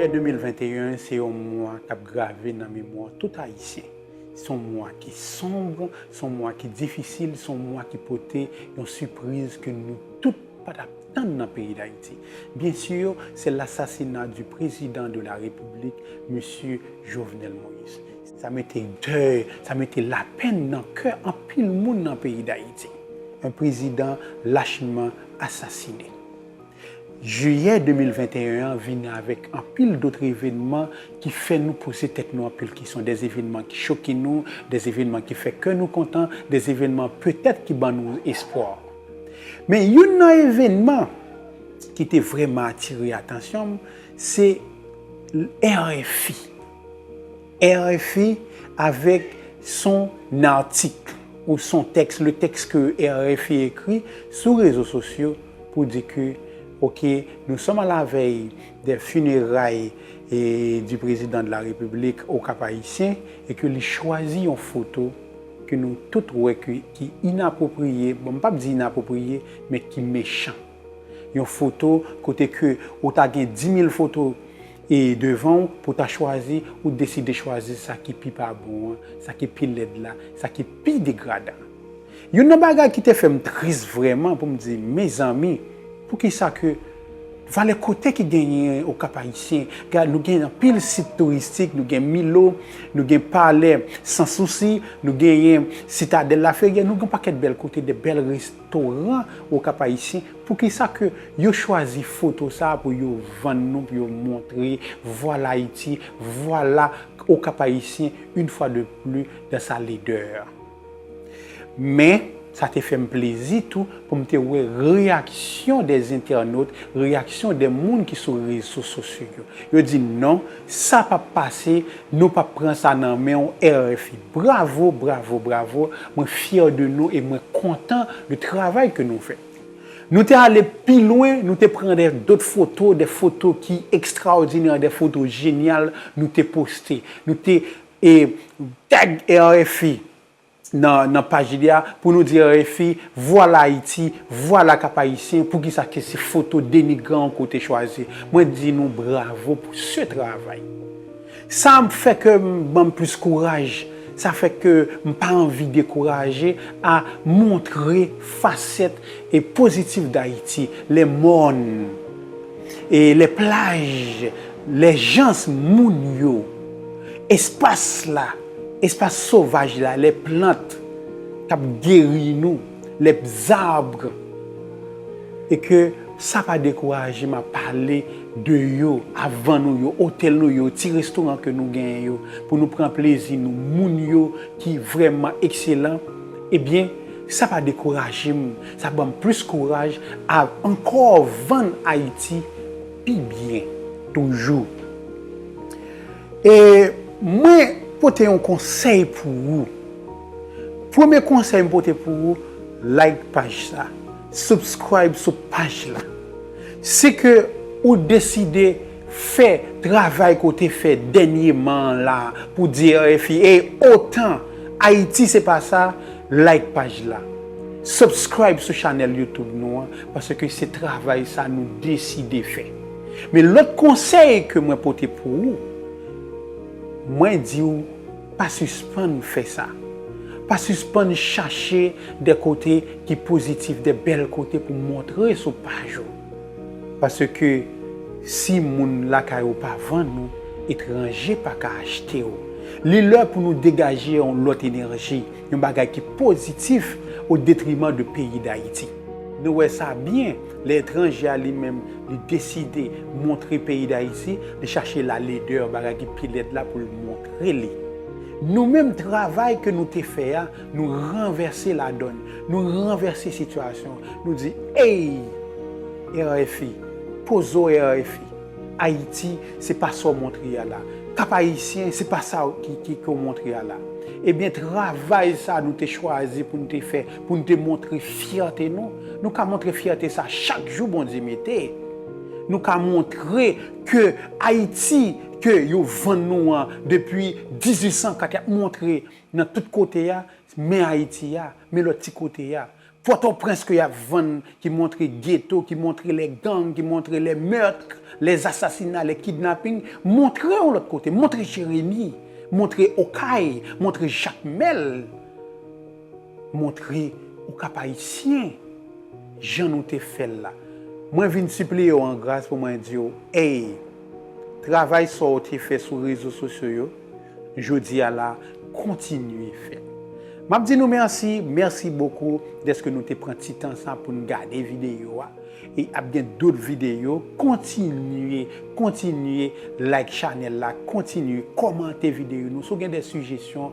Jiyè 2021 se yon mwa k ap grave nan memwa tout Ayisyen. S on mwa ki sonb, s on mwa ki difisil, s on mwa ki pote yon sipriz ke nou tout pa t ap tann nan peyi Dayiti. Byen si, se lasasina di prezidan de la Repiblik, Mesye Jovenel Moïse. Sa mete dèy, sa mete lapenn nan kè anpil moun nan peyi Dayiti. Yon prezidan lachman asasine. Jiyè 2021 an vini avèk anpil dot evenman ki fè nou poze tèt nou anpil kesyon, dè evenman ki choke nou, dè evenman ki fè kè nou kontan, dè evenman petèt ki ban nou espwa. Men youn nan evenman ki te vrèman atire atansyon m, se RFI. RFI avèk son artik ou son tèks, le tèks ke RFI ekri sou rezo sosyo pou di ke ok nou sòm a la vèy dè fineray di prezidan de la repiblik o Kap Ayisyen e ke li chwazi yon foto ke nou tout wè ke ki inapwopriye, bon m pap di inapwopriye men ki mechan. Yon foto kote ke ou ta gen 10.000 foto e devan ou pou ta chwazi, ou t deside chwazi sa ki pi pa bon an, sa ki pi lèd la, sa ki pi degradan. Youn nan bagay ki te fè m tris vrèman pou m di, mezanmi, poukisa ke valè kote ki genyen o Kap Ayisyen, gad nou gen anpil sit touristik, nou gen Milo, nou gen Palè Sans Souci, nou genyen Citadelle Laferrière, nou gen yon pakèt bèl kote, de bèl res. Toran okap ayisyen poukisa ke yo chwazi foto sa pou yo vann nou pou yo montre vwala ayiti vwala okap ayisyen yn fwa de pli dan sa ledè men sa te fèm plezi tou poum te wè reyaksyon dè zentènot reyaksyon dè moun ki sou rezo sosyo yo di non sa pap pase nou pap pran sa nan menw RFI. Bravo bravo bravo mwen fyè de nou e mwen kontan de travay ke nou fè nou te ale pi lwen nou te pran dè dot foto dè foto ki ekstraòdinè dè foto jenyal nou te poste nou te e tag RFI nan nan paj li a pou nou di RFI vwala Ayiti vwala kap ayisyen poukisa ke se foto denigran ke w te chwazi mwen di nou bravo pou se travay. Sa fè ke m banm plis kouraj, sa fè ke m pa anvi dekouraje a montre fasèt e pozitif Dayiti, lè mòn, e lè plaj, lè jans moun yo, espas la, espas sovaj la, lè plant k ap geri nou, lè bzarbr e ke sa pa dekouraje m ap pale. de yo avan nou yo otèl nou yo ti restoran ke nou genyen yo pou nou pran plezi nou moun yo ki vrèman ekselan ebyen sa pa dekouraje m sa banm plis kouraj av ankò vann ayiti pi byen toujou e mwen pote yon konsèy pou ou premye konsèy m pote pou ou like paj sa subscribe sou paj la. Se ke ou deside fè travay ke w te fè dènyeman an la a pou w di RFI ey otan Ayiti se pa sa, like paj la. Subscribe sou chanèl YouTube nou an paske se travay sa nou deside fè. Men lòt konsèy ke mwen pote pou ou, mwen di w. Pa sispann fè sa. Pa sispann chache de kote ki pozitif, de bèl kote pou montre sou paj ou. Paske si moun lakay ou pa vann ou, etranje pa ka achte ou. Li lè pou nou degaje yon lòt enèji, yon bagay ki pozitif odetriman de peyi Dayiti. Nou wè sa byen. Lè etranje a li menm li deside montre peyi Dayiti, li chache la leder bagay ki pi lèd la pou l montre li. Nou menm travay ke nou te fè a, nou ranvèse ladòn, nou ranvèse sitiyasyon an, nou di Ey! RFI, pozo RFI, Ayiti se pa sa w montre a la. Kap Ayisyen se pa sa ki ke w montre a la. Ebyen travay sa nou te chwazi pou n te fè Pou n te montre fyète nou. Nou ka montre fyète sa chak jou Bondye mete. Nou ka montre ke Ayiti ke yo vann nou an depi 1804 y ap montre nan tout kote a, men Ayiti a, men lòt ti kote a. Pòtoprens ke y ap vann ki montre geto, ki montre lè gang, ki montre lè meurtre, lè asasina, lè kidnaping, montre yon lòt kote, montre Jeremi, montre Okay, montre Jakmèl. Montre ou Kapayisyen jan nou te fè l la. Mwen vin sipliye w an gras pou mwen di w, Ey, travay sa w te fè sou rezo sosyo yo jodi a la, kontinye fè l. M ap di nou mèsi, mèsi bokou dèske nou te pran ti tan sa pou n gade videyo a. E ap gen dot videyo. Kontinye, kontinye like chanèl la, kontinye kòmante videyo nou. Si w gen de sijesyon,